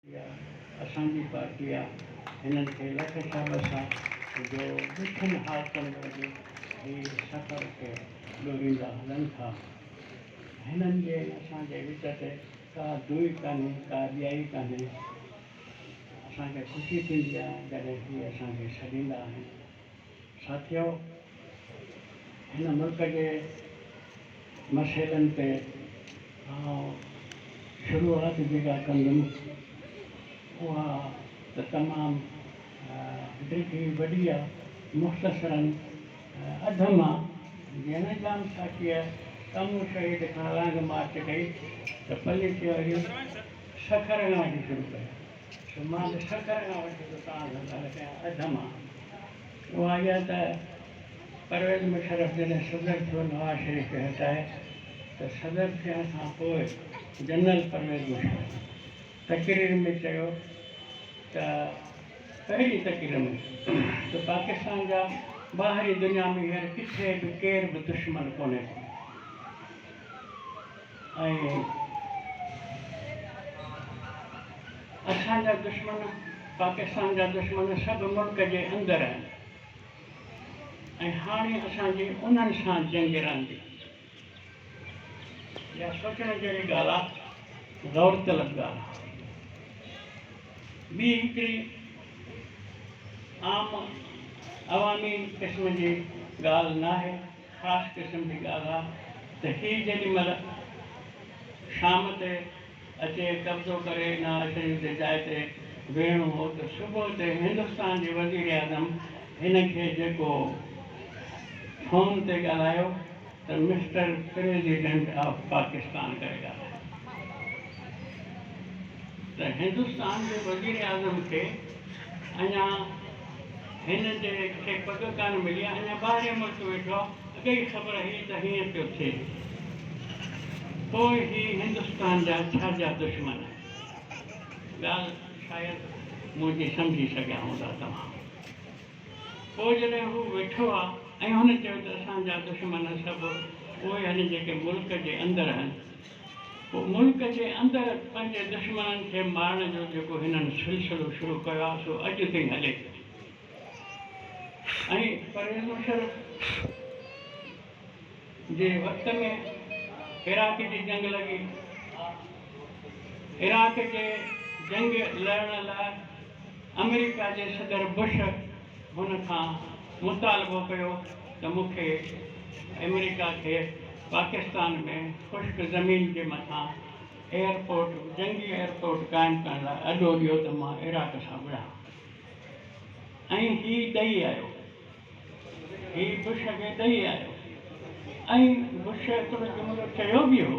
اها اسان جي پارٽي آ هنن کي لک شابس آ جو ڏکين حالتن ۾ به هي سفر کي ڏوريندا هلن ٿا هنن جي ۽ اسان جي وچ تي ڪا دوئي ڪانهي ڪا ٻيائي ڪانهي اسان کي خوشي ٿيندي آ جڏهن هي اسان کي سڏيندا آهن. ساٿيو! هن ملڪ جي مسئلن تي آئون شروعات جيڪا ڪندم اها ته تمام ڊگهي وڏي آ مختصراً اڌ مان جيئن نه ڄام ساقيء ڪمون شهيد کان لانگ مارچ ڪئي ته پلي چيو هيون سکر ڳاهه جي شروع ڪيون. ته مان به سکر کان وٺي ته تان ڌنڌا نه ڪيا اڌ مان اها اها ته پرويز مشرف جڏهن صدر ٿيو نواز شريف کي هٽائي ته صدر ٿيڻ کان پوء جنرل پرويز مشرف تقرير ۾ چيو ته پهرين تقرير ۾ ته پاڪستان جا ٻاهرين دنيا ۾ هينئر ڪٿي به ڪير به دشمن ڪونهي ڪو. اسان جا دشمن پاڪستان جا دشمن سڀ ملڪ جي اندر آهن ۽ هاڻي اسان جي انهن سان جنگ رهندي. اها سوچڻ جهڙي ڳالهه آهي، غور طلب ڳالهه آهي. ٻي هڪڙي عام عوامي قسم جي ڳالهه ناهي. خاص قسم جي ڳالهه آ ته هي جيڏي مهل شام تي اچي قبضو ڪري نه اسين جي جاء تي ويهڻو هو ته صبح تي هندستان جي وزيراعظم هن کي جيڪو فون تي ڳالهايو ته مسٽر پريزيڊنٽ آف پاڪستان ڪري ڳالهايو ته هندستان جي وزيراعظم کي اڃا هن تي کي پڳ ڪانه ملي آ اڃا ٻاهرين ملڪ ويٺو آ اڳ ئي خبر هئي ته هيئن پيو ٿئي پوء هي هندستان جا ڇا جا دشمن ڳالھ شايد منهنجي سمجهي سگهيا هوندا توهان پوء جڏهن هو ويٺو آ ۽ هن چيو ته اسان جا دشمن سڀ اهي آهن جيڪي ملڪ جي اندر آهن پوء ملڪ جي اندر پنهنجي دشمنن کي مارڻ جو جيڪو هنن سلسلو شروع ڪيو آهي سو اڄ تائين هلي پيو ۽ پرويز مشرف جي وقت ۾ عراق جي جنگ لڳي عراق جي جنگ لڙڻ لاء آمريڪا جي صدر بش هن کان مطالبو ڪيو ته مون کي آمريڪا کي پاڪستان ۾ خشڪ زمين جي مٿان ايئرپورٽ جنگي ايئرپورٽ قائم ڪرڻ لاء اڏو ڏيو ته مان عراق سان وڙهان ۽ هي ڏئي آيو هي بش کي ڏئي آيو ۽ بش ايترو جملو چيو به هو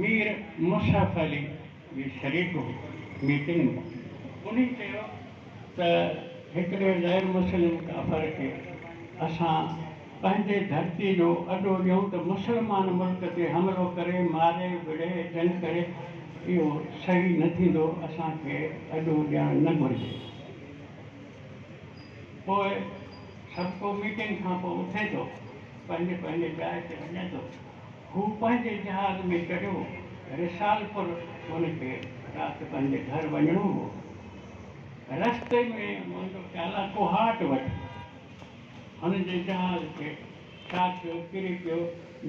مير مصحف علي به شريڪ هو ميٽنگ ۾، انهي چيو ته هڪڙي غير مسلم ڪافر کي اسان پنهنجي ڌرتي جو اڏو ڏيون ته مسلمان ملڪ تي حملو ڪري ماري وڙهي جنگ ڪري اهو صحيح نه ٿيندو اسان کي اڏو ڏيڻ نه گهرجي پوء سڀڪو ميٽنگ کانپوء اٿي ٿو پنهنجي پنهنجي جاء تي وڃي ٿو. هو پنهنجي جهاز ۾ چڙهيو، رسالپور هن کي رات پنهنجي گهر وڃڻو هو، رستي ۾ مهندو چالا ڪوهاٽ وٽ هن جي جهاز کي ڇا ٿيو ڪري پيو،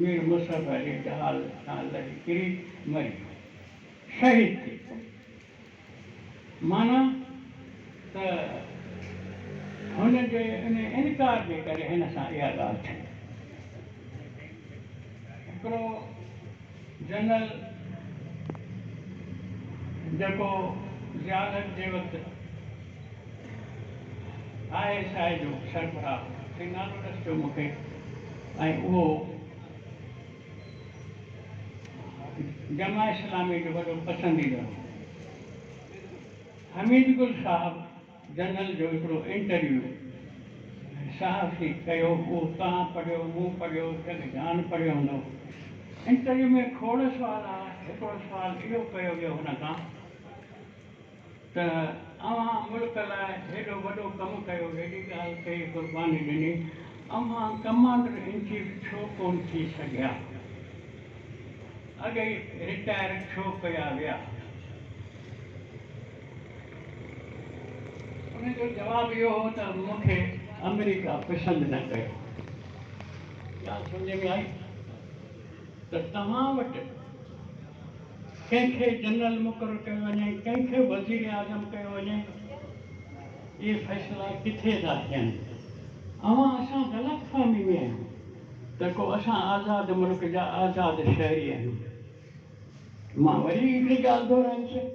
مير مصعب علي جهاز تان لهي ڪري مري ويو، شهيد ٿي پيو. معنيٰ ته هن جي ان انڪار جي ڪري هن سان اها ڳالهه ٿي. هڪڙو جنرل جيڪو ضياء الحق جي وقت آء ايس آء جو سربراهه هو، سي نالو ڏس جو مون کي ۽ اهو. جماعت اسلامي جو وڏو پسنديده هو. حميد گل صاحب جنرل جو هڪڙو انٽرويو صحافي ڪيو اهو توهان پڙهيو مون پڙهيو جڳ جهان پڙهيو هوندو. انٽرويو ۾ کوڙ سوال ها هڪڙو سوال اهو ڪيو ويو هن کان. ته اوهان ملڪ لاء هيڏو وڏو ڪم ڪيو، هيڏي ڳالهه ڪئي، قرباني ڏني، اوهان ڪمانڊر ان چيف ڇو ڪونه ٿي سگهيا؟ اڳئي رٽائر ڇو ڪيا ويا؟ ان جو جواب اهو هو ته مون کي آمريڪا پسند نه ڪيو. ڳالهه سمجهه ۾ آئي؟ ته توهان وٽ. ڪنهن کي جنرل مقرر ڪيو وڃي ڪنهن کي وزيراعظم ڪيو وڃي اهي فيصلا ڪٿي ٿا ٿين اوهان اسان غلط فهمي ۾ آهيو ته ڪو اسان آزاد ملڪ جا آزاد شهري آهيون مان وري هڪڙي ڳالهه دهرائي ڇڏ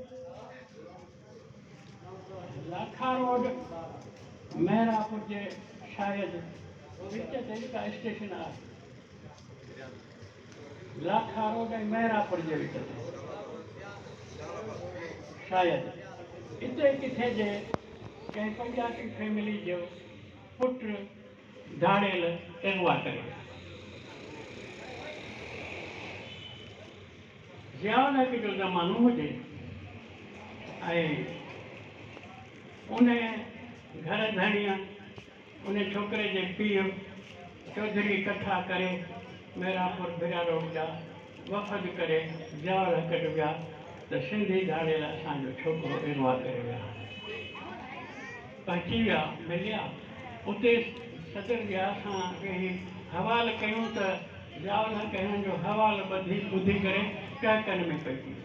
لاکا روڊ مهراپور جي شايد وچ تي هڪ اسٽيشن آهي لاکا روڊ ۽ مهراپور جي وچ تي شايد اتي ڪٿي جي ڪنهن پنجابي فيملي جو پٽ ڌاڙيل اغوا ڪري ويو. ضياء الحق جو زمانو هجي ۽ ان گهر ڌڻيء ان ڇوڪري جي پيء چوڌري ڪٿا ڪري ميرانپور ڀريا روڊ جا وفد ڪري زياول هڪٽ ويا ته سنڌي ڌاڙيل اسان جو ڇوڪرو اغوا ڪري ويا آهن. پهچي ويا مليا اتي صدر ضياء سان ويهي حوال ڪيون ته زياول هڪ هنن جو حوال ٻڌي ٻڌي ڪري ڪهڪن ۾ پئجي ويو.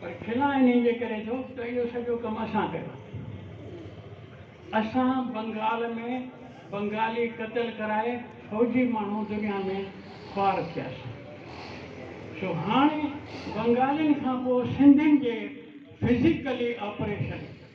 پر کلان انهي جي ڪري ٿو ته اهو سڄو ڪم اسان ڪيو آهي. اسان بنگال ۾ بنگالي قتل ڪرائي فوجي ماڻهو دنيا ۾ خوار ٿياسين. سو هاڻي بنگالين کان پوء سنڌين جي فزيڪلي آپريشن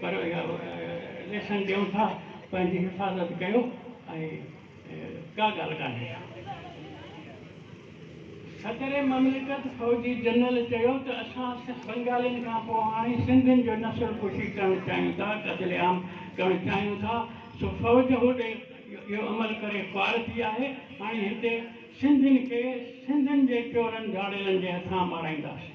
پر ليسن ڏيون ٿا پنهنجي حفاظت ڪيو ۽ ڪا ڳالهه ڪانهي صدر مملڪت فوجي جنرل چيو ته اسان سک بنگالين کان پوء هاڻي سنڌين جو نسل ڪشي ڪرڻ چاهيون ٿا قتل عام ڪرڻ چاهيون ٿا سو فوج هوڏي اهو عمل ڪري خوار ٿي آهي هاڻي هتي سنڌين کي سنڌين جي چورن ڌاڙيلن جي هٿان مارائينداسين.